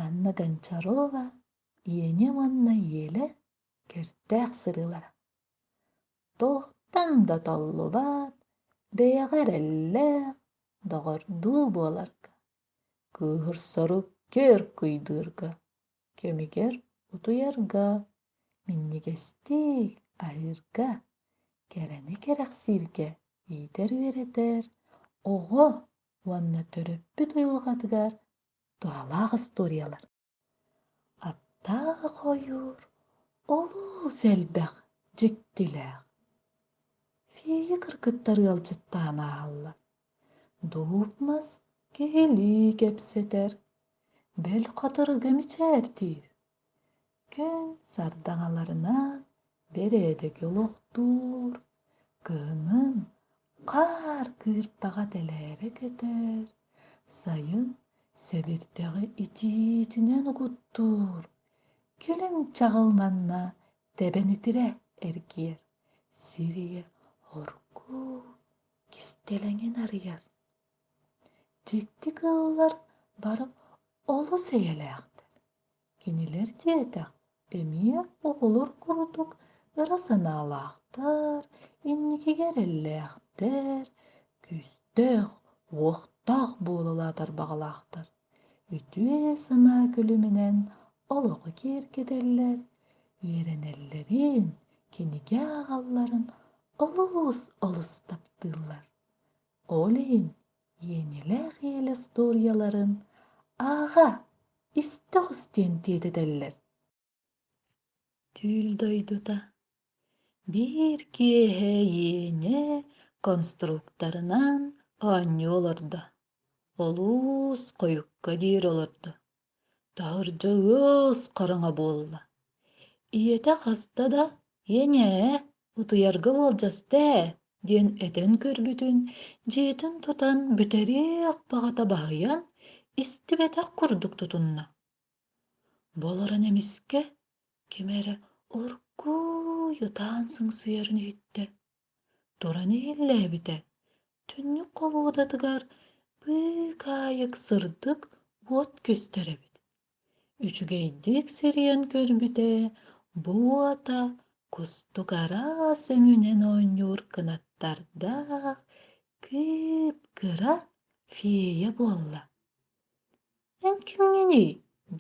Анна Гончарова Иэни уонна Иэлэ кэртээх сырыылара туохтан да толлубат бэйэҕэ эрэллээх доҕордуу буоларга кыыһырсару көр-куйдуурга көмүгэр утуйарга минньигэстик аһыырга кэрэни кэрэхсииргэ иитэр үөрэтэр оҕо уонна төрөппүт айылҕатыгар туһалаах историялар аптаах ойуур олус элбэх дьиктилээх фея кыргыттар ыалдьыттаан ааһаллар дуп мас киһилии кэпсэтэр бэл хатырыга мичээрдиир кэл сардаҥаларынан бэрээдэки олохтуур кыһынын хаар кыырпаҕа тэлээрэ кэтэр сайын сэбирдэҕи итиитинэн угуттуур кэлим чаҕыл манна тэбэнитирэ эргийэр сиригэ оргууй кистэлэҥин арыйар дьикти кыыллар бары олус эйэлээхтэр Кинилэр диэтэх, эмиэ оҕолор курдук ыра санаалаахтар, инникигэ эрэллээхтэр, күүстээх, уохтаах буолалаа тарбаҕалаахтар. Үтүө санаа күлүмүнэн олоҕу киэргэтэллэр, үөрэнэллэрин, кинигэ ааҕалларын олус олус таптыыллар. Ол иһин иэнилээх иэл остуоруйаларын «Ааҕа, истэ оҕус» диэн тиэтэтэллэр түүл дойдута биир киэһэ иэнэ конструкторынан оонньуу олордо олус хойукка диэри олордо Таһырдьа ыас хараҥа буолла. Ийэтэ хаста да «Ийэнээ, утуйарга уолдьаста ээ» диэн этэн көрбүтүн, дьиэтин тутан бүтэриэх баҕата баһыйан, истибэтэх курдук тутунна. Болорон эмискэ ким эрэ оргууй ытаан сыҥсыйарын иһиттэ. туран иһиллээбитэ түннүк холуодатыгар быыкаайык сырдык уот көстөр эбит үчүгэйдик сирийэн көрбүтэ бу уота кустук араас өҥүнэн оонньуур кынаттардаах кып-кыра фея буолла эн кимҥиний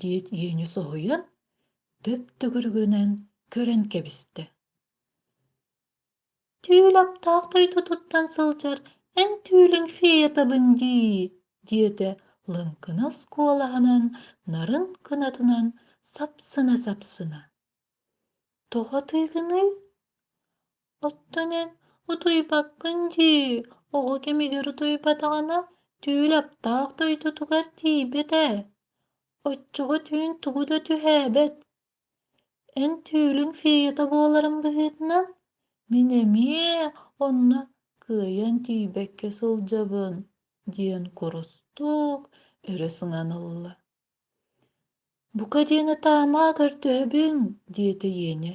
диэт иэньэ соһуйан дөп төгүрүгүнэн көрөн кэбистэ тыыл аптаах дойдутуттан сылдьар эн түүлүҥ феетабын дии диэтэ лыҥкынас куолаһынан нарын кынатынан сапсына-сапсына тоҕо атыыгыный оттон эн утуйбаккын дии оҕо кэмигэр утуйбатаҕына түүл аптаах дойдутугар тиийбэт ээ оччоҕо түүн тугу да түһээбэт эн түүлүҥ феята буоларым быһыытынан мин эмиэ онно кыайан тиийбэккэ сылдьабын диэн курустук өрө сыҥан ылла бука диэни таама көрдөһөбүн диэтэ иэнэ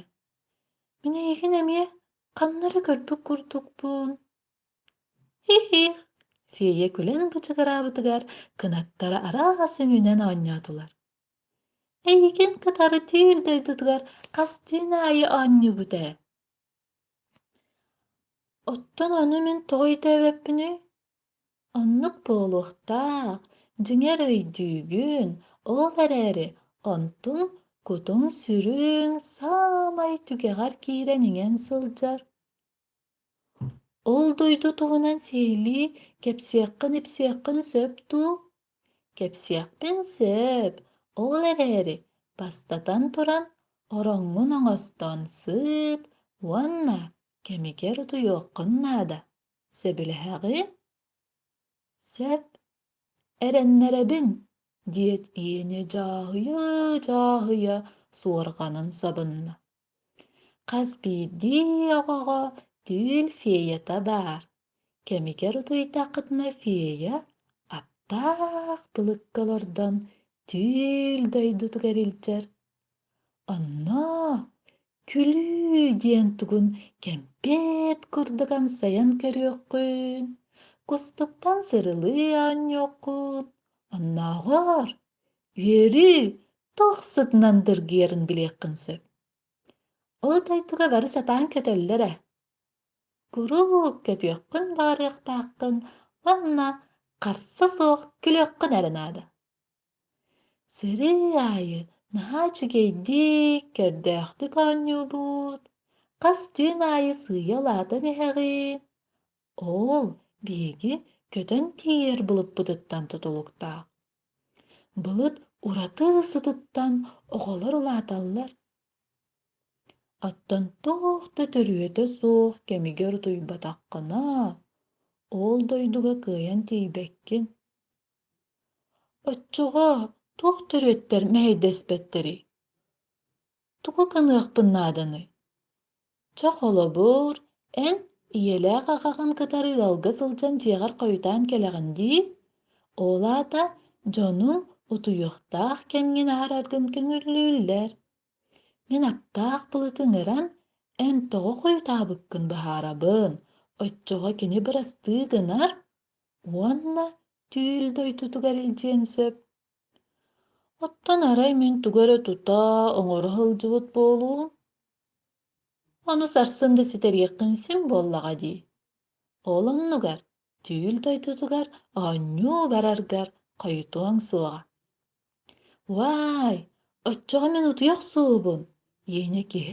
мин эйигин эмиэ ханна эрэ көрбүт курдукпун хи-хих фея күлэн бычыгыраабытыгар кынаттара араас үҥүнэн оонньоотулар эйигин кытары түүл дойдутугар хастыын аайы оонньуубут ээ оттон ону мин тоҕо өйдөөбөппүнүй оннук буолуохтаах дьиҥэр өйдүүгүн ол эрээри онтуҥ кутуҥ сүрүн саамай түгэҕэр киирэн иҥэн сылдьар Ол дойду туһунан сиһилии кэпсиэххин-ипсиэххин сөп дуу? Кэпсиэхпин сөп. Ол эрээри, бастатан туран, ороҥҥун оҥостон сыт уонна кэмигэр утуйуоххун наада. Сөбүлэһэҕин? Сөп. Эрэннэрэбин, диэт Иэнэ дьааһыйа-дьааһыйа суорҕанын сабынна. хас биирдии оҕоҕо түүл феята баар кэмигэр утуйдаххытына фея аптаах былыкка олордон түүл дойдутугар илдьэр онно күлүү диэн тугун кэмпиэт курдук амсайан көрүөххүн кустуктан сырылыы оонньуоххут оннооҕор үөрүү туох сытынан дыргыйарын билиэххин сөп. Ол дойдуга бары сатаан көтөллөр ээ. Куруук көтүөххүн баарыахтааххын уонна харса суох күлүөххүн эрэ наада. Сэрии аайы наһаа үчүгэйдик, көрдөөхтүк оонньуубут, хас түүн аайы сыыйа улаатан иһэҕин, Оол, биһиги көтөн тиийэр былыппытыттан тутулуктаах. Былыт ураты сытыттан оҕолор улааталлар. Оттон туох да төрүөтэ суох кэмигэр утуйбатаххына, оол дойдуга кыайан тиийбэккин. Оччоҕо туох төрүөттэр мэһэйдэспэттэрий? тугу гыныахпын нааданый чэ холобур эн ийэлээх аҕаҕын кытары ыалга сылдьан дьиэҕэр хойутаан кэлэҕин дии ол аата дьону утуйуохтаах кэмҥин аһараргын көҥүллүүллэр мин аптаах былыты ыҥыран эн тоҕо хойутаабыккын быһаарабын оччоҕо кини бырастыы гынар уонна түүл дойдутугар илдьиэн сөп Оттон арай мин тугу эрэ тута, оҥоро сылдьыбыт буолуум? Ону сарсын да ситэриэххин син буоллаҕа дии. Ол оннугар түүл дойдутугар оонньуу бараргар хойутуоҥ суоҕа. Вай, оччоҕо мин утуйа охсуубун. Иэнэ киһи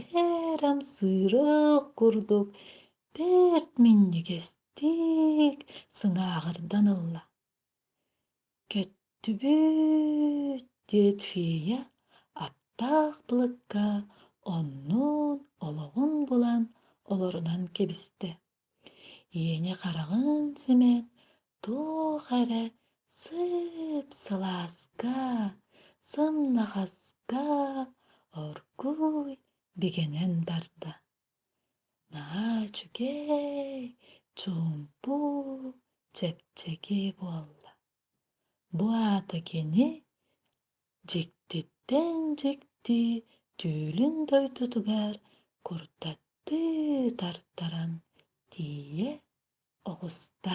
эрэ амсыырыах курдук бэрт минньигэстик сыҥааҕырдан ылла. Кэттибэт, диэт Фея аптаах былыкка оннун олоҕун булан олорунан кэбистэ. Иэнэ хараҕын симэн туох эрэ сып-сылааска, сымнаҕаска оргууй бигэнэн барда. Наһаа үчүгэй, чуумпу, чэпчэки буолла. Бу аата кини дьиктиттэн дьикти түүлүн дойдутугар курдаттыы тартаран тиийэ оҕуста